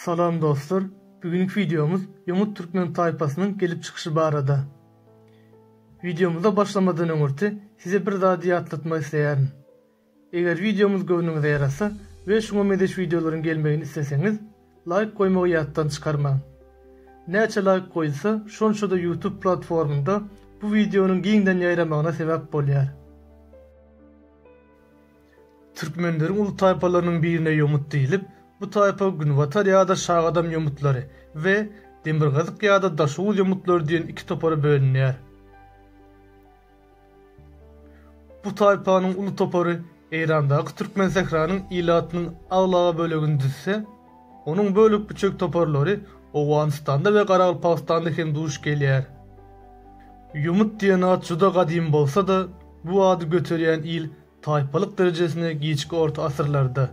Salam dostlar, bu günki wideomyz ýomut türkmen taýpasynyň gelip çykyşy barada. Wideomyza başlamadan öňürti size bir zady ýatlatmak isleýärin. Eger wideomyz göwnüňize ýarasa we şuňa mezeş wideolaryň gelmegini isleseňiz, laýk goýmagy ýatdan çykarmaň. Näçe laýk goýulsa, şonça-da YouTube platformynda bu wideonyň giňden ýaýramagyna sebäp bolýar. Türkmenleriň uly taýpalarynyň birine ýomut diýlip, bu taýpa Günbatar ýa-da Şagadam ýomutlary we Demirgazyk ýa-da Daşoguz ýomutlary diýen iki topara bölünýär. Bu taýpanyň uly topary Eýrandaky Türkmensähranyň ilatynyň aglaba bölegini düzse, onuň bölek-büçek toparlary Owganystanda we Garagalpagystanda hem duş gelýär. Ýomut diýen at juda gadymy bolsa-da, bu ady göterýän il taýpalyk derejesine giçki orta asyrlarda,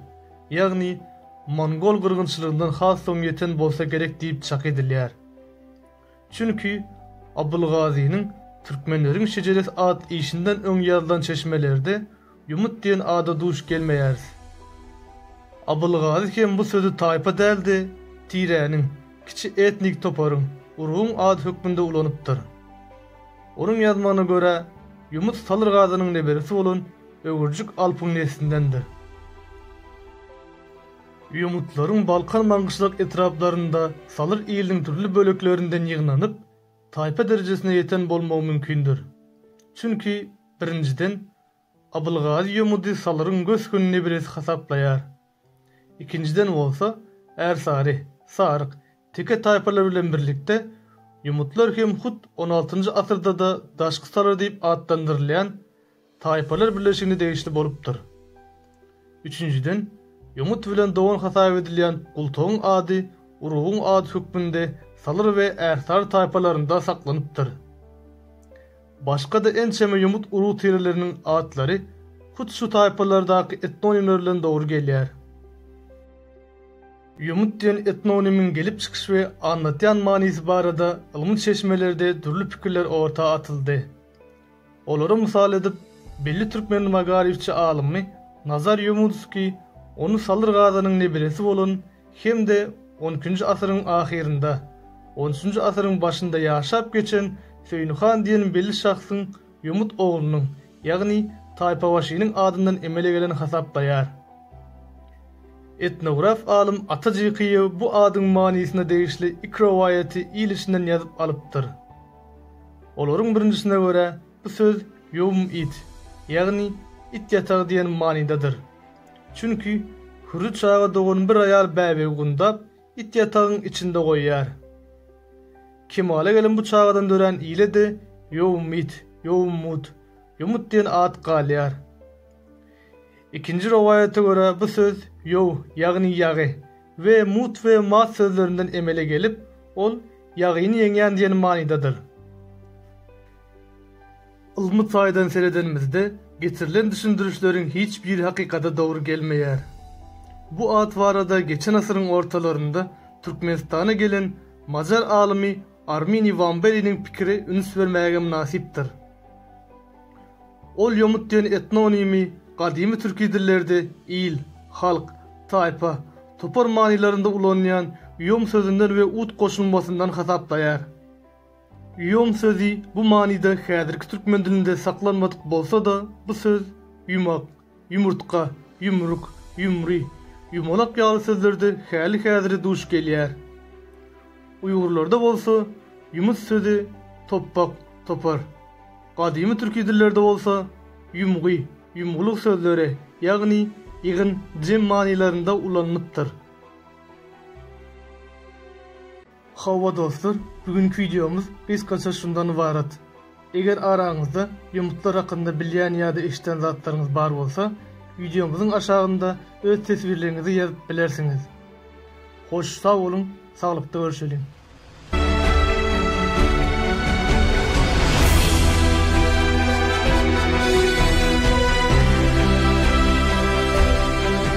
ýagny mongol gyrgynçylygyndan has soň ýeten bolsa gerek diýip çak edilýär. Çünki Abylgazynyň Türkmenleriň şejeresi at işinden öň ýazylan çeşmelerde ýumut diýen ada duş gelmeýäris. Abylgazy hem bu sözi taýpa däl-de, tiräniň, kiçi etnik toparyň, urguň ady hökmünde ulanypdyr. Onuň ýazmagyna görä, ýumut Salyrgazynyň neberesi bolan Öwürjik Alpyň neslindendir. Ýomutlaryň Balkan maňgyşlak etraplarynda salyr iliniň dürli böleklerinden ýygnanyp, taýpa derejesine ýeten bolmagy mümkindir. Çünki, birinjiden, Abylgazy ýomudy salyryň gös-gün nebiresi hasaplaýar. Ikinjiden bolsa, Ärsary, Saryk, Teke taýpalary bilen birlikde, ýomutlar hem hut on altynjy asyrda-da daşky salyr diýip atlandyrylýan, Taýpalar birleşigine degişli bolupdyr. Üçünjiden, ýomut bilen dogan hasap edilýän gultagyň ady urugyň ady hökmünde salyr we ärsary taýpalarynda saklanypdyr. Başga-da ençeme ýomut urug tireleriniň atlary hut şu taýpalardaky etnonimler bilen dogry gelýär. Ýomut diýen etnonimiň gelip çykyş we aňlatýan manysy barada ylmy çeşmelerde dürli pikirler orta atyldy. Olara mysal edip, belli türkmen magaryfçy alymy Nazar Ýomudskiý ony Salyr Gazanyň nebiresi bolan hem-de on ikinji asyryň ahyrynda, on üçünji asyryň başynda ýaşap geçen Söýün han diýen belli şahsyň Ýomut oglunyň, ýagny taýpabaşynyň adyndan emele gelen hasaplaýar. Etnograf alym Ata Jykyýew bu adyň manysyna degişli iki rowaýaty il içinden ýazyp alypdyr. Olaryň birinjisine görä, bu söz ýowm-id, ýagny it ýatagy diýen manydadyr. Çünki Hürri çaga dogan bir aýal bäbegi gundap, it ýatagyň içinde goýýar. Kemala gelen bu çagadan dörän ile-de ýowm-id, ýowm-mud, ýomut diýen at galýar. Ikinji rowaýata görä bu söz ýow, ýagny ýagy, we mut we mat sözlerinden emele gelip, ol ýagyny ýeňýän diýen manydadyr. Ylmy taýdan seredenimizde, getirilen düşündirişleriň hiç biri hakykata dogry gelmeýär. Bu at barada geçen asyryň ortalarynda Türkmenistana gelen macar alymy Armini Wambeliniň pikiri üns bermäge mynasypdyr. Ol ýomut diýen etnonimi gadymy türki dillerde il, halk, taýpa, topar manylarynda ulanylýan ýom sözünden we ut goşulmasyndan hasaplaýar. Ýom sözi bu manyda häzirki türkmen dilinde saklanmadyk bolsa-da, bu söz, ýumak, Ýumurtga, ýumruk, ýumry, ýumalak ýaly sözlerde häli-häzire duş gelýär. Uýgurlarda bolsa ýumut sözi topbak, topar. Gadymy türki dillerde bolsa ýumgy, ýumgulyk sözleri, ýagny ýygyn, jem manylarynda ulanylypdyr. Hawa dostlar bu günki wideomyz gysgaça şundan ybarat. Eger araňyzda ýomutlar hakynda bilýän ýa-da eşiden zatlaryňyz bar bolsa wideomyzyň aşagynda öz teswirleriňizi ýazyp bilersiňiz. Hoş sag boluň saglykda görşeliň.